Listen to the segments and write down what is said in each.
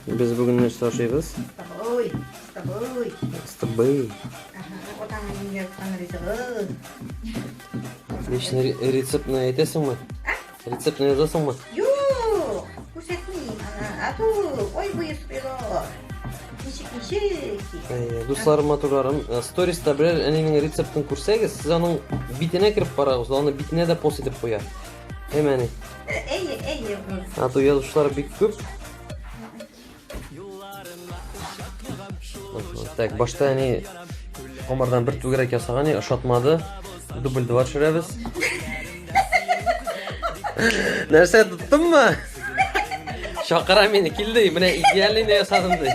Без бүген нәрсә ашыйбыз? Стабой, стабой. Стабой. Лично рецептны әйтәсеңме? Рецептны язасыңмы? Юк, күрсәтмим. Ату, ой, буе спирол. Ничек, ничек? Дусларым, матурларым, э, сториста берәр әнинең рецептын күрсәгез, сез аның битенә кереп карагыз, аны битенә дә пост итеп куя. Әмәне. Әйе, әйе. Ату язучылар бик күп. Так, башта әни комардан бер түгәрәк ясаган, ни ошатмады. Дубль 2 төшерәбез. Нәрсә тоттыңмы? Чакыра мине, килде, менә идеальный ясадым ди.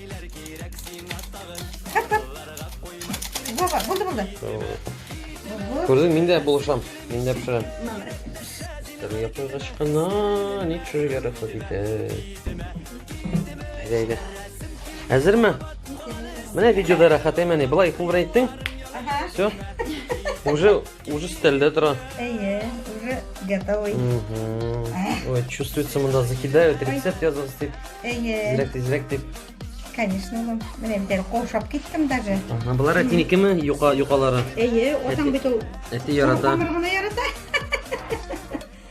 Кап, кап. Баба, булды, булды. Булды. Күрдең, мин дә булышам. Мин дә пешерәм. Тәм япыргач кына ни пешерергә рөхсәт итә. Әйдә, әйдә. Әзерме? Менә видеода рәхәт әмәне. Былай кул белән иттең. Ага. Все. Уже Уже стелде тора. Әйе, уже готовый. Ой, чувствуется, мында закидают, рецепт язылыз дип. Әйе. Тизрәк, тизрәк дип. Конечно, улым. Менә бит әле каушап киттем даже. Ага, болар әтинекеме, юка, юкалары? Әйе, атаң бит ул. Әти ярата. Тамыр гына ярата.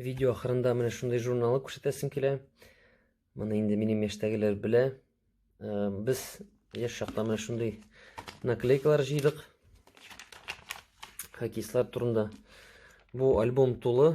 Видео ахырында менә шундый журналы күрсәтәсем килә. Моны инде минем яшьтәгеләр белә. Э, без яшь чакта менә шундый наклейкалар җыйдык. Хоккеистлар турында. Бу альбом тулы.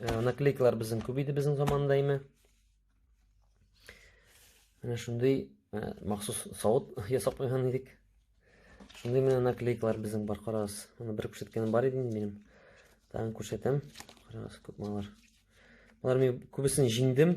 Ә, наклейкалар безнең күп иде безнең заманда дәйме. Менә шундый ә, махсус савыт ясап куйган идек. Шундый менә наклейкалар безнең бар, карагыз. Аны бер күрсәткәнем бар иде инде минем. Тагын күрсәтәм. Карагыз, күп малар. Алар мен күбесен җиңдем.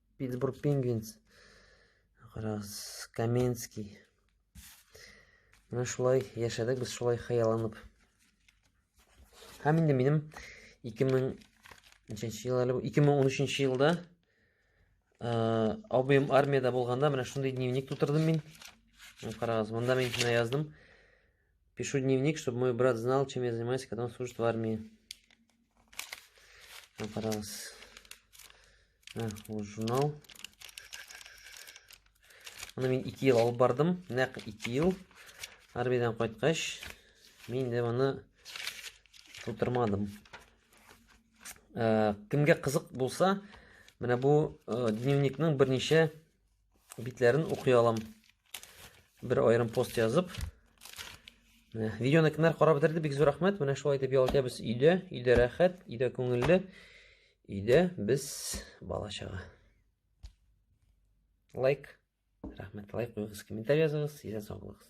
Питтсбург Пингвинс. Карагыз, Каменский. Менә шулай яшәдек без шулай хыялланып. Һәм инде минем 2000 ничәнче ел әле 2013 елда э, абыем армияда булганда менә шундый дневник тутырдым мин. Карагыз, монда мин менә яздым. Пишу дневник, чтобы мой брат знал, чем я занимаюсь, когда он служит в армии. Ә, карагыз. Ә, ул журнал. Аны мин 2 ел алып бардым. Нәкъ 2 ел. Армиядән кайткач, мин дә моны тутырмадым. Ә, кемгә кызык булса, менә бу ә, дневникның берничә битләрен укый алам. Бер аерым пост язып. Менә видеоны кемнәр карап бетерде, бик зур рәхмәт. Менә шулай итеп ял итәбез өйдә, өйдә рәхәт, өйдә күңелле. Өйдә без бала чага. Лайк. Рәхмәт, лайк куйыгыз, комментарий языгыз, сезгә сау булыгыз.